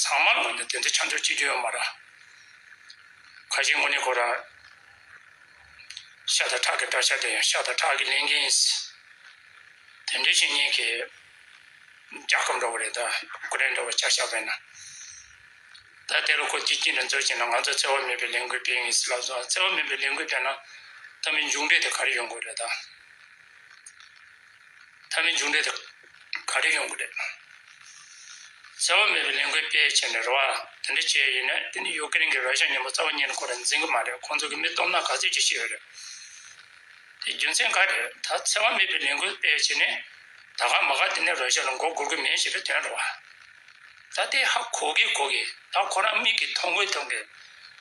ཚང་མར་ངོས་འདོན་དོན་དུ་ཆང་ཆུང་གཅིག་བརྗོད་ཡོད་མ་རང། ཁ་ཞེ་དངོས་གནས་ཁོ་རང། ཤ་དང་ཁྲག་གི་འདྲ་ཆགས་དེ་ཡང་ཤ་དང་ཁྲག་གིས་ལེན་མཁན་ཡིན་སྲིད། དེ་འདྲའི་བཤེས་གཉེན་གྱིས། རྒྱ་ཁབ་འགྲོ་བ་རེད་ད་ཀུ་རེ་འགྲོ་བ་ཆགས་ཤག་བས་ན། ད་དེ་རུ་ཁོ་སྐྱིད་སྐྱིད་ནས་འཛུལ་ཅིག་ན་ང་ཚོ་བརྩེ་བ་མེད་པའི་ལས་འགུལ་སྤེལ་ངེས་སྲིད་ལབ་སོང་བརྩེ་བ་མེད་པའི་ལས་འགུལ་སྤེལ་ན། ད་མི་མཇུག་འབྲས་དེ་ག་རེ་ཡོང་དགོས་རེད་ད། མཐའ་མའི་མཇུག་འབྲས་དེ་ག་རེ་ཡོང་གི་རེད། བརྩེ་བ་མེད་པའི་ལས་འགུལ་སྤེལ་ཆེད་ནས་རེ་བ་དེ་འདྲ་བྱས་ཡོད་ན་དེ་ནི་ཡོ་ཀེ་རེན་གྱི་ར་ཤ་ཉིན་མོ་རྩ་བ་ཉིད་ནས་ཁོ་རང་འཛིན་གི་མ་རེད་ཁོང་ཚོ་གི་མི་སྟོབས་ནག་ག་ཚོད་ཅིག་ཤེས་ཡོད་རེད། དེ་རྒྱུ་མཚན་ག་རེད་ད་བརྩེ་བ་མེད་པའི་ལས་འགུལ་སྤེལ་ཆེད་ནས་ད་ག་མ་ག་དེ་ནས་ར་ཤ་ལ་མགོ་སྒུར་གི་མིན་ཞེས་པའི་དོན་རེད་བ། ད་དེ་ཧ་གོ་གི་གོ་གི་ད་ཁོ་རང་མིག་གིས་མཐོང་གི་མཐོང་གི།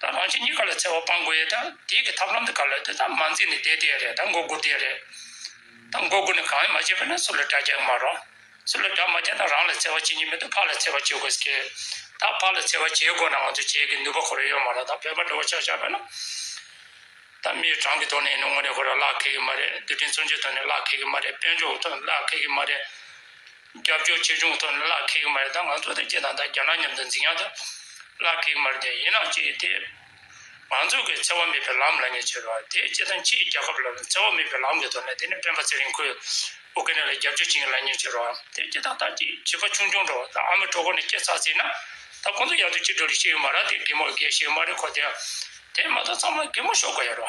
ད་རང་བཞིན་གཉིས་ཀ་ལ་འཚེ་བ་སྤང་དགོས་ཡས་དང་དེའི་གི་ཐབས་ལམ་དུ་ག་ལ་དེ་དང་མ་འཛིན་ནས་བསྡད་དེ་ཡས་རེད་དང་མགོ་སྒུར་དེ་ཡས་རེད་དང་མགོ་སྒུར་ནས་གང་ཡང་མ་བྱས་པས་ན་སུ་ལ་དགྲ་རྒྱག་གི་མ་རོང། སུ་ལ་དགྲ་མ་རྒྱག་ན་རང་ལ་འཚེ་བ་བྱེད་ཉིན་མེད་དུ་ཕ་ལ་འཚེ་བ་བྱེད་དགོས་ཀི། ད་ཕ་ལ་འཚེ་བ་བྱེད་དགོས་ན་ང་ཚོ་བྱེད་གི་ནུས་པ་ཁོ་ར་ཡོད་མ་རོང་ད་བོད་པ་འགྲོ་བ་ཆགས་ཆགས་པས་ན། ད་མིའི་གྲངས་གི་ཐོག་ནས་ཡིན་ན་དངོས་གནས་ཁོ་ར་བརླག་ཁེ་གི་མ་རེད་རྡུལ་ཕྲན་མཚོན་ཆའི་ཐོག་ནས་བརླག་ཁེ་གི་མ་རེད་དཔལ་འབྱོར་གི་ཐོག་ནས་བརླག་ཁེ་གི་མ་རེད། རྒྱབ་སྐྱོར་ཆེ་ཆུང་ཐོག་ནས་གླ་ཁེག་མ་རེད་ད་ང་ཚོ་ཐེ་ཇེ་ཐང་དང་རྒྱ་ནག་མཉམ་དུ་འཛིང་ཡག་ད་གླ་ཁེག་མ་རེད་དེ་ཡིན་ནང་ཅི་ཡོད་དེ། ང་ཚོ་གི་འཚེ་བ་མེད་པའི་ལམ་ལ་ཉེ་ཆེར་བ་ཐེ་ཇེ་ཐང་ཕྱིའི་རྒྱལ་ཁབ་ལ་འཚེ་བ་མེད་པའི་ལམ་གི་ཐོག་ནས་དེ་ནས་སྤེན་པ་ཚེ་རིང་ཁོས་ཨུ་ཀི་ནི་ལ་རྒྱབ་སྐྱོར་བྱེད་མཁན་ལ་ཉེ་ཆེར་བ་ཐེ་ཇེ་ཐང་ད་ཅི་བྱེད་པ་ཆུང་ཆུང་འགྲོ་བ་ད་ཨ་མི་གྲོ་གོར་ནས་སྐྱེ་ཚར་ཟིན་ན་ད་ཁོང་ཚོ་ཡག་ཏུ་ཅི་འགྲོ་རེ་ཤེས་ཡོད་མ་ར་དེ་གེ་མོ་རྒས་ཤིག་མ་རེ་ཁོ་དེ་དེ་མ་ཐག་ཚང་མ་གེ་མོ་ཤོག་གོ་ཡ་རོ།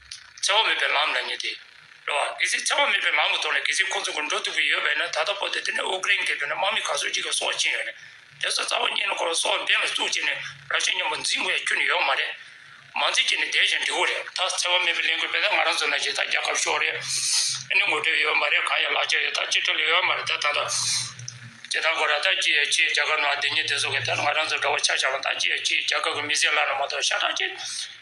འཚེ་བ་མེད་པའི་ལམ་ལ་ཉེ་སྟེ། རེད་བ། གལ་སྲིད་འཚེ་བ་མེད་པའི་ལམ་གྱི་ཐོག་ནས་གལ་སྲིད་ཁོང་ཚོ་ཀུན་འགྲོ་ཐུབ་ཀྱི་ཡོད་པས་ན་ད་ལྟ་བོད་དེ་དེ་ནས་ཨུ་ཀི་རན་གྱི་བོད་ནས་དམག་མི་ག་ཚོད་ཅིག་གི་སྲོག་བཅིངས་ཡོད་ནས། དེ་ཚོ་རྩ་བ་ཉིད་ནས་ཁོ་རང་སྲོག་འབེན་ལ་བཙུགས་བྱས་ནས་རང་ཤི་སྙམ་པ་འཛིན་དགོས་ཡ་ཁྱོད་ནི་ཡོད་མ་རེད། མ་འཛིན་གྱི་ནི་བསྡད་ཀྱང་འགྲིག་གོ་རེད་ད། འཚེ་བ་མེད་པའི་ལས་འགུལ་སྤེལ་ད་ང་རང་ཚོ་ནང་གྱི་ད་རྒྱ་ཁབ་ཤོག་རེད། ཨ་ནི་ངོ་སྤྲོད་ཡོད་མ་རེད་གང་ཡང་ལག་ཆ་ཡོད་ད་ཅི་ཁྲེལ་ཡོད་མ་རེད་ད་ད་ད། ཅི་ད་ཁོ་རང་ད་ཅི་ཡ་ཅི་རྒྱ་གར་ནང་བདེན་གཉིས་བདེན་གསུམ་གྱི་ད་ང་རང་ཚོ་འདྲ་བ་ཆ་ཆ་བ་ད་ཅི་ཡ་ཅི་རྒྱ་གར་གྱི་མི་སེར་ལ་ན་མ་གཏོགས་ཤ་ཁྲག་ཅི།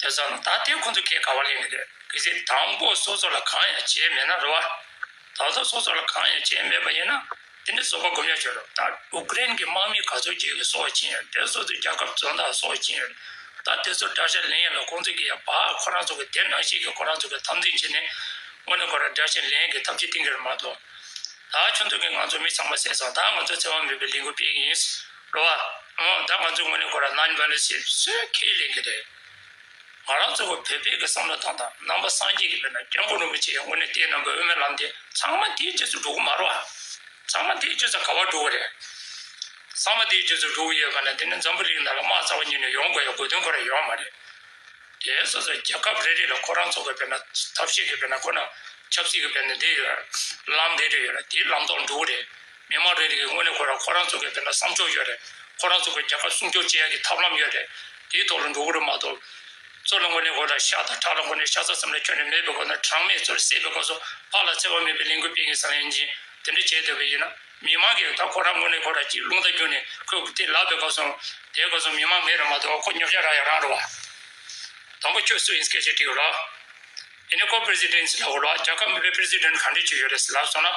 དེ་ཙམ་ལ་ད་ལྟའི་ཁོང་ཚོ་ཁས་ག་བ་ལེན་གི་འདོད་གི་ཟིག་དང་པོ་སོ་སོ་ལ་གང་ཡང་བྱས་མེད་ན་རུ་བ། ད་གཟོད་སོ་སོ་ལ་གང་ཡང་བྱས་མེད་པ་ཡིན་ན་དེ་འདྲའི་བཟོ་པ་སྒོམ་ཡ་ཆོད་རོགས་ད་ཨུ་ཀི་རན་གི་དམག་མི་ག་ཚོད་ཅིག་གི་སྲོག་བཅིངས་ཡོད་དེ་སོ་སོའི་རྒྱ་ཁབ་བཙོན་བདག་སྲོག་བཅིངས་ཡོད་ད་དེ་ཚོ་དགྲ་ཤ་ལེན་ཡ་ལ་ཁོང་ཚོ་གི་ཡ་བ་ཁོ་རང་ཚོ་གི་དེ་ནང་བཞིན་གི་ཁོ་རང་ཚོ་གི་འཐབ་འཛིང་བྱེད་ནས་དངོས་ནས་ཁོ་རང་དགྲ་ཤ་ལེན་གི་ཐབས་ཇི་གཏིང་གི་རུ་མ་གཏོགས། ད་ཁྱོད་ཚོ་གི་ང་ཚོ་མི་ཚང་མ་བསད་སོང་ད་ང་ཚོ་བཙན་དབང་མེད་པའི་ལས་འགུལ་སྤེལ་གི་ཡིན། འགྲོ་བ། ད་ང་ཚོའི་ངོས་ནས་ཁོ་རང་ནང་འགྲོ་ཞེས་བཤད་ཁས་ལེན་གྱི་རེད། ང་རང་ཚོ་བོད་པའི་གི་བསམ་བློ་དང་དང་རྣམ་པ་སངས་རྒྱས་ཀྱི་དཔེར་ན་སྐྱབས་མགོན་རིན་པོ་ཆེའི་ངོས་ནས་བལྟས་ན་འགོས་མེད་ལམ་དེ་ཚང་མ་དེའི་རྗེས་སུ་འགྲོ་གི་མ་རོ། ཚང་མ་དེའི་རྗེས་སུ་ག་བར་འགྲོ་གི་རེད། ཚང་མ་དེའི་རྗེས་སུ་འགྲོ་གི་ཡོད་པ་ན་དེ་ནི་འཛམ་བུ་རིགས་ནང་ལ་དམག་རྩ་བ་ཉིད་ནས་ཡོང་དགོས་ཡ་དགོས་དོན་ཁོ་རང་ཡོད་མ་རེད། དེའི་སོ་སོ་རྒྱལ་ཁབ་རེ་རེ་ལ་ཁོ་རང་ཚོ་གི་དཔེར་ན་ཐབས་ཤེས་གི་དཔེར་ན་ཁོ་ན་ཆབ་སྲིད་གི་དཔེར་ན་དེ་ཡོད། ལམ་རེ་རེ་ཡོད་ལ་དེའི་ལམ་ཐོག་འགྲོ་གི་རེད། མི་དམངས་རེ་རེ་གིས་དངོས་གནས་ཁོ་རང་ཁོ་རང་ཚོ་གི་བོད་ལ་བསམ་ཕྱོགས་ཡོད་རེད། ཁོ་རང་ཚོ་གི་རྒྱལ་ཁབ་སྲུང་སྐྱོབ་བྱེད་ཡག་གི་ཐབས་ལམ་ཡོད་རེད། དེའི་ཐོག་ལ་འགྲོ་གི་རེད་མ་གཏོགས། ཚོ་ལ་དངོས་གནས་ཁོ་རང་ཤ་དང་ཁྲག་ལ་དངོས་གནས་ཤ་ཚ་ཙམ་ལས་ཁྱོན་ནས་མེད་པའི་སྒོ་ནས་གྲངས་མེད་ཚོར་བསད་པའི་སྐོར་སོགས་ཕར་ལ་འཚེ་བ་མེད་པའི་ལས་འགུལ་སྤེལ་གི་བསམ་ཡ་ཡིན་ཕྱིན་དེ་འདྲ་བྱས་སྡོད་པ་ཡིན་ན་མི་དམངས་ཀྱིས་ད་ཁོ་རང་དངོས་གནས་ཁོ་རང་ཅིག་རླུང་རྟ་རྒྱུག་ནས་ཁོས་གུ་དེ་ལབ་པའི་སྐབས་སོང། དེའི་སྐབས་སོང་མི་དམངས་མེད་རེད་མ་གཏོགས་ཁོ་ཉོབ་ཤ་རག་ཡ་རང་རེད་བ། དང་པོ་ཁྱོད་སུ་ཡིན་སྐད་ཆ་དྲིས་ལགས། ཨེ་ནས་ཀོ president ཟེར་ལབ་བོ་ལགས་རྒྱལ་ཁབ་མི་བོད president གང་འདྲས་ཅིག་ཡོད་རེད་ཟེར་ལབ་སོང་ན།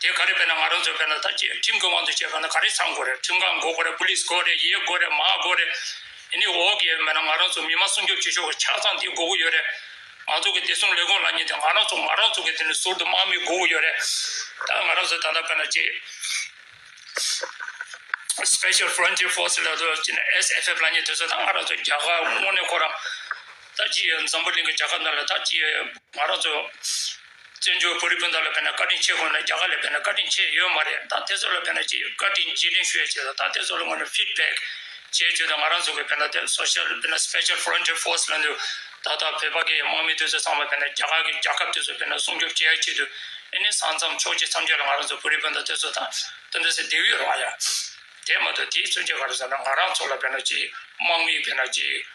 དེ་ག་རེ་བེད་ན་ང་རང་ཚོ་བེད་ན་ད་ཁྱིམ་གྱི་དབང་དུ་བྱས་པ་ན་ག་རེ་ཚང་དགོས་རེད་ཁྲིམས་ཁང་འགོ་དགོས་རེད Police དགོས་རེད་ཡེ་དགོས་རེད་མ་དགོས་རེད་དེ་ནས་འོག་གི་བེད་ན་ང་རང་ཚོ་མི་དམངས་སྲུང་སྐྱོབ་བྱེད་ཆོག་གི་ཆ་ཚང་དེ་དགོས་གི་ཡོད་རེད་ང་ཚོ་གི་བདེ་སྲུང་ལས་ཁུངས་ལ་ཉེ་དེ་ང་རང་ཚོ་ང་རང་ཚོ་གི་དེ་ནས་ཟུར་དུ་དམག་མི་དགོས་གི་ཡོད་རེད་ད་ང་རང་ཚོ་ད་ལྟ་བེད་ན་ཅི Special Frontier Force ལ་དོ་ཅི་ནས SFF ལ་ཉེ་དེ་ཚོ་ད་ང་རང་ཚོ་རྒྱ་གར་དངོས་གནས་ཁོ་རང་ད་ཅི་ཡོད་འཛམ་བུ་གླིང་གི་རྒྱལ་ཁབ་ན་ལ་ད་ཅི་ཡོད་ང་རང་ཚོ། བཙན་བྱོལ་བོད་རིགས་སྤུན་ཟླ་ལ་ཕན་ན་བཀའ་དྲིན་ཆེ་དགོས་ན་རྒྱ་གར་ལ་ཕན་ན་བཀའ་དྲིན་ཆེ་ཡོད་མ་རེད་ད་དེ་ཚོ་ལ་ཕན་ན་ཅི་ཡོད་བཀའ་དྲིན་རྗེས་དྲིན་ཞུ་ཡ་བྱེད་ད་ད་དེ་ཚོ་ལ་དངོས་ནས་ཕིད་བེག་བྱེད་བྱོས་ད་ང་རང་ཚོ་གི་ཕན་ན་དེ Social དཔེར་ན Special Frontier Force ལ་འདུ་ད་ད་བོད་པ་གི་དམག་མི་དེ་ཚོ་ཚང་མ་ཕན་ན་རྒྱ་གར་གི་རྒྱ་ཁབ་དེ་ཚོ་ཕན་ན་སྲུང་སྐྱོབ་བྱེད་ཡ་བྱེད་དུ་ཨེ་ནི་སང་མཚམས་ཕྱོགས་ཅི་མཚམས་ཅི་ལ་ང་རང་ཚོ་བོད་རིགས་སྤུན་ཟླ་དེ་ཚོ་དང་དེ་འདྲ་སེ་འདེགས་ཡོད་རང་ཡ་དེ་མ་ཏོ་དེའི་མཚོན་བྱེད་ག་རེ་ཟེར་ན་ང་རང་ཚོ་ལ་ཕན་ན་ཅི་ཡོད་དམག་མིའི་ཕན་ན་ཅི་ཡོད།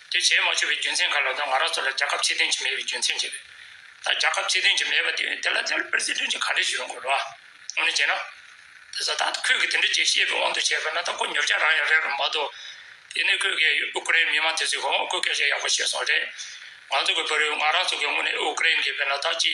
དེ་བྱས་མ་ཆོད་པའི་རྒྱུ་མཚན་ག་ལ་དང་ང་རང་ཚོ་ལ་རྒྱ་ཁབ་ཕྱི་དོན་གྱི་མེད་པའི་རྒྱུ་མཚན་ཅི་རེད། ད་རྒྱ་ཁབ་ཕྱི་དོན་གྱི་མེད་པ་དེ་དེ་ལ་དེ་ལ་པེར་སི་ཐོན་གྱི་ག་རེ་བྱེད་དགོས་རོ། ངོ་ནས་བྱས་ན། དེ་ས་ཐག་ཏུ་ཁོས་གི་དེ་འདྲ་བྱེད་ཤེས་པའི་དབང་དུ་བྱས་པ་ན་ད་ཁོ་ཉོབ་ཀྱང་རང་ཡང་རེད་རུང་མ་གཏོགས། དེ་ནས་ཁོས་གི་ཨུ་ཀི་རེན་མི་མང་དེ་ཚོས་གི་ཧོང་ཀོའི་སྐད་ཆ་ཡག་པོ་བཤད་སོང་རེད། ང་ཚོ་གི་བུ་རེད་ང་རང་ཚོ་གི་དངོས་གནས་ཨུ་ཀི་རེན་གི་བེ་ན་ད་ཅི།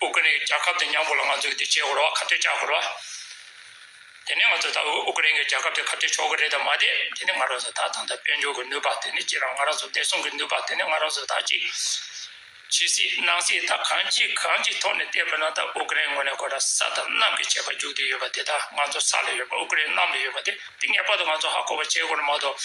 ཨུ་ཀྲེ་རྒྱལ་ཁབ་དེ་མྱང་པོ་ལ་ང་ཚོས་དེ་བྱེད་དགོས་ར་བ་ཁ་བྲལ་བཅག་དགོས་ར་བ། དེ་ནས་ང་ཚོ་ད་ཨུ་ཀྲེ་རྒྱལ་ཁབ་དེ་ཁ་བྲལ་ཆོག་གི་རེད་དམ་མ་རེད་དེ་ནི་ང་རང་ཚོ་ད་ད་ལྟ་དཔལ་འབྱོར་གྱི་ནུས་པ་དེ་ནི་ཅི་རང་ང་རང་ཚོ་བདེ་སྲུང་གི་ནུས་པ་དེ་ནི་ང་རང་ཚོ་ད་ཅི་བྱེད་སྲིད་གནང་སྲིད་ད་གང་ཅི་གང་ཅི་ཐོག་ནས་བལྟས་པ་ན་ད་ཨུ་ཀྲེ་ངོས་ནས་གོ་ད་ས་དང་གནམ་གྱི་བྱེད་པ་རྒྱུག་དེ་ཡོད་པ་དེ་ད་ང་ཚོ་ས་ལ་ཡོད་པ་ཨུ་ཀྲེ་གནམ་ལ་ཡོད་པ་དེ་དེ་ངེས་པར་དུ་ང་ཚོ་ཧ་གོ་བ་བྱེད་དགོས་ར་མ་གཏོགས།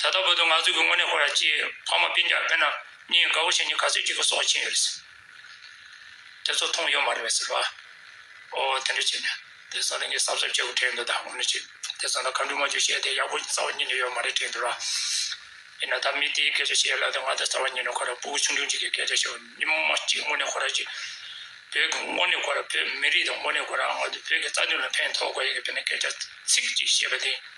ད་ལྟ་བོད་དུ་ནག་རྫུན་གྱི་དངོས་གནས་ཁོ་ར་ཅེས་ཕ་མ་དཔེ་རྒྱག་མཁན་རྣམས་གཉིས་དགའ་བོ་བྱས་ནས་ག་ཚོད་ཅིག་གི་སྲོག་ཕྱིན་ཡོད་རེད། དེ་ཚོ་མཐོང་ཡོད་མ་རེད་ཟེར། ཨོ་ཨོ་དེ་འདྲ་བྱས་ནས་དེ་ས་གནས་ཀྱི་གསར་བཟོ་བྱེད་དགོས་དྲན་འདུག་ད་ངོ་ནས་བྱས་དེ་ཚོ་ལ་ག་འདྲུ་མ་འཇུ་བཤད་དེ་ཡག་པོ་རྩ་བ་ཉིད་ནས་ཡོད་མ་རེད་དྲན་འདུག་ར་ཡིན་ན་ད་མི་དེའི་སྐད་ཆ་བཤད་སླ་དེ་ང་ད་རྩ་བ་ཉིད་ནས་ཁོ་ར་པུའུ་ཆུང་ཆུང་ཅིག་གི་སྐད་ཆ་བཤད་བ་ཉིན་མོ་མ་གཅིག་དངོས་གནས་ཁོ་ར་ཅིག་བོད་ཀྱི་དངོས་གནས་ཁོ་ར་བོད་མི་རིགས་དང་དངོས་གནས་ཁོ་ར་ང་ཚོ་བོད་ཀྱི་རྩ་དོན་ལ་ཕན་ཐོག་དགོས་ཡིན་གྱི་བོད་ནས་སྐད་ཆ་ཚིག་གཅིག་བཤད་པ་དེ།